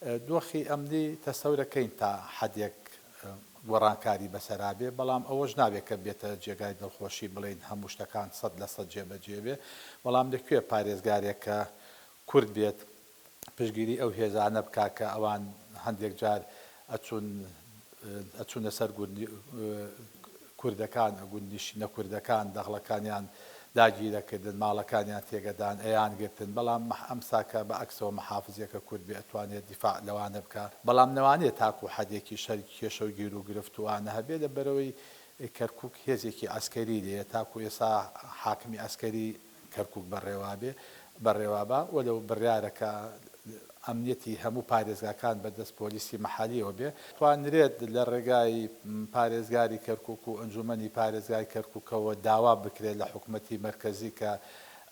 دۆخی ئەمنی تەسەورەکەین تا حەدێک گۆڕانکاری بەسەرا بێ، بەڵام ئەوەش نابێ کە بێتە جێگای دڵخۆشی بڵێین هەموو شتەکان سەد لە سەد جێبەجێ بێ، بەڵام لە کوێ پارێزگارێک کە کورد بێت پشتگیری ئەو هێزانە بکا کە ئەوان هەندێک جار ئەچوون ئەچونە سەر کوردەکان ئەگوت نیشتینە کوردەکان دەغڵەکانیان داگیرەکردن ماڵەکانیان تێگەدان ئەیان گرتن بەڵام مەح ئەمسا کە بە ئەکسەوە مەحافزیەکە کورد بێ ئەتوانێ دیفاع لەوانە بکا بەڵام نەوانێ تاکو حەدێکیش هەر کێشەو گیرو گرفت و ئانە هەبێ لە بەرەوەی کەرکوک هێزێکی عەسکەری لێیە تاکو ئێسا حاکمی عەسکەری کەرکوک بەڕێوابێ بەڕێوابا و لەو بڕیارە کە ئەمنیەتی هەموو پارێزگاکان بەدەست پۆلیسی مەحەلیەوە بێ، توانرێت لە ڕێگای پارێزگاری کەرکوک و ئەنجومەنی پارێزگای کەرکوکەوە داوا بکرێت لە حکومەتی مەرکەزی کە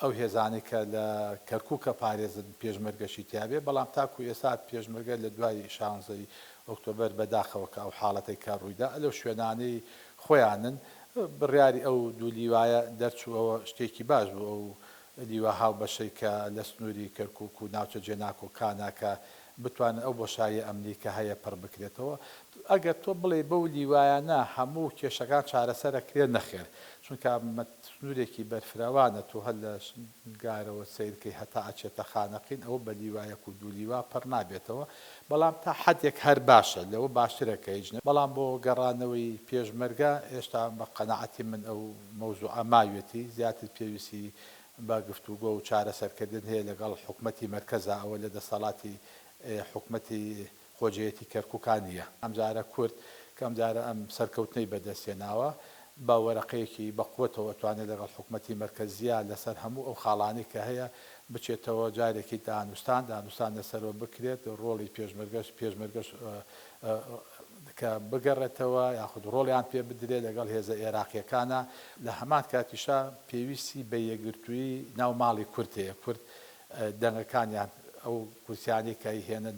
ئەو هێزانەی کە لە کەرکوکە پارێزن پێشمەرگەشی تیابێ بەڵام تاکو ئێسا پێشمەرگە لە دوای شانزەی ئۆکتۆبەر بەداخەوە کە ئەو حاڵەتەی کە ڕوویدا لەو شوێنانەی خۆیانن، بڕیاری ئەو دوو لیوایە دەرچووەوە شتێکی باش بوو، ئەو لیوا هاوبەشەی کە لە سنووری کەرکووک و ناوچە جێناکۆکانە کە بتوانن ئەو بۆشاییە ئەمنی کە هەیە پڕ بکرێتەوە، ئەگەر تۆ بڵێی بەو لیوایانە هەموو کێشەکان چارەسەر ئەکرێن نەخێر، چونکە سنوورێکی بەرفراوانە تۆ هەر لە گارەوە سەیرکەی هەتا ئەچێتە خانەقین ئەوە بە لیوایەک و دوو لیوا پڕ نابێتەوە بەڵام تا حەدێک هەر باشە لەوە باشترە کە هیچ نەبێت بەڵام بۆ گەڕانەوەی پێشمەرگە هێشتا بە قەناعەتی من ئەو مەوزوعە ماویەتی زیاتر پێویستی بە گفتوگۆ و چارەسەرکردن هەیە لەگەڵ حکومەتی مەرکەزا ئەوە لە دەستەڵاتی حکومەتی خۆجێیەتی کەرکوکا نییە ئەمجارە کورد کە ئەمجارە ئەم سەرکەوتنەی بەدەست هێناوە بە وەرەقەیەکی بە قوەتەوە توانێت لەگەڵ حکومەتی مەرکەزییە لەسەر هەموو ئەو خاڵانەی کە هەیە بچێتەوە جارێکی دانوستان دانوستان لەسەرەوە بکرێت ڕۆڵی پێشمەرگەش پێشمەرگەش کە بگەڕێتەوە یاخود ڕۆڵیان پێ بدرێت لەگەڵ هێزە ئێراقیەکانە لە هەمان کاتیشا پێویستی بە یەکگرتووی ناو ماڵی کورد هەیە کورد دەنگەکانیان ئەو کورسیانەی کە ئەیهێنن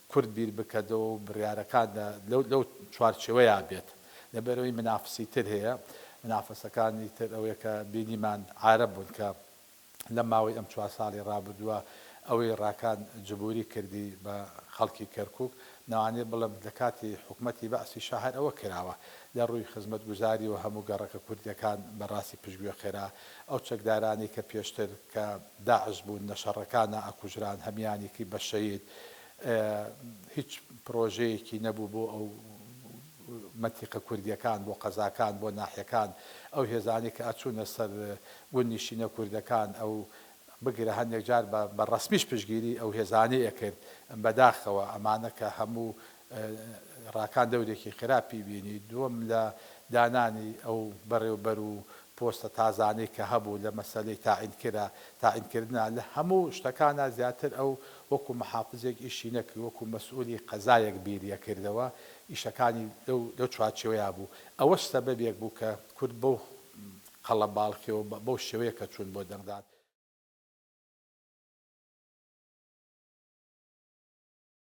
کورد بیر بکەدەوە و بڕیارەکان لە لەو چوارچێوەیا بێت لەبەرەوەی منافسی تر هەیە منافسەکانی تر ئەوەیە کە بینیمان عارەب بوون کە لە ماوەی ئەم چوار ساڵی ڕابردووە ئەوەی ڕاکان جبوری کردی بە خەڵکی کەرکوک نەوانێ بڵێم لە کاتی حکومەتی بەعسی شا هەر ئەوە کراوە لە ڕووی خزمەتگوزاری و هەموو گەڕەکە کوردیەکان بە ڕاستی پشگوێ خێرا ئەو چەکدارانەی کە پێشتر کە داعش بوون لە شەڕەکانا ئەکوژران هەمیانیکی بە شەید ئە هیچ پرۆژەیەکی نەبوو بۆ ئەو مەتیقە کوردیەکان بۆ قەزاکان بۆ ناحیەکان ئەو هێزانەی کە ئەچوونە سەر گوند نیشینە کوردەکان ئەو بگرە هەندێک جار بە بە ڕەسمیش پشگیری ئەو هێزانەی ئەکرد بەداخەوە ئەمانە کە هەموو ڕاکان دەورێکی خراپی بینی، دووەم لە دانانی ئەو بەڕێوبەر و پۆستە تازانەی کە هەبوو لە مەسەلەی تاعینکرا تاعینکردنا لە هەموو شتەکانا زیاتر ئەو وەکو محافزێک ئیشی نەکرد وەکو مەسئولی قەزایەک بیری ئەکردەوە ئیشەکانی لەو لەو چوارچێوەیا بوو ئەوەش سەبەبێک بوو کە کورد بەو قەڵەباڵخی و بەو شێوەیە کە چوون بۆ دەنگدان.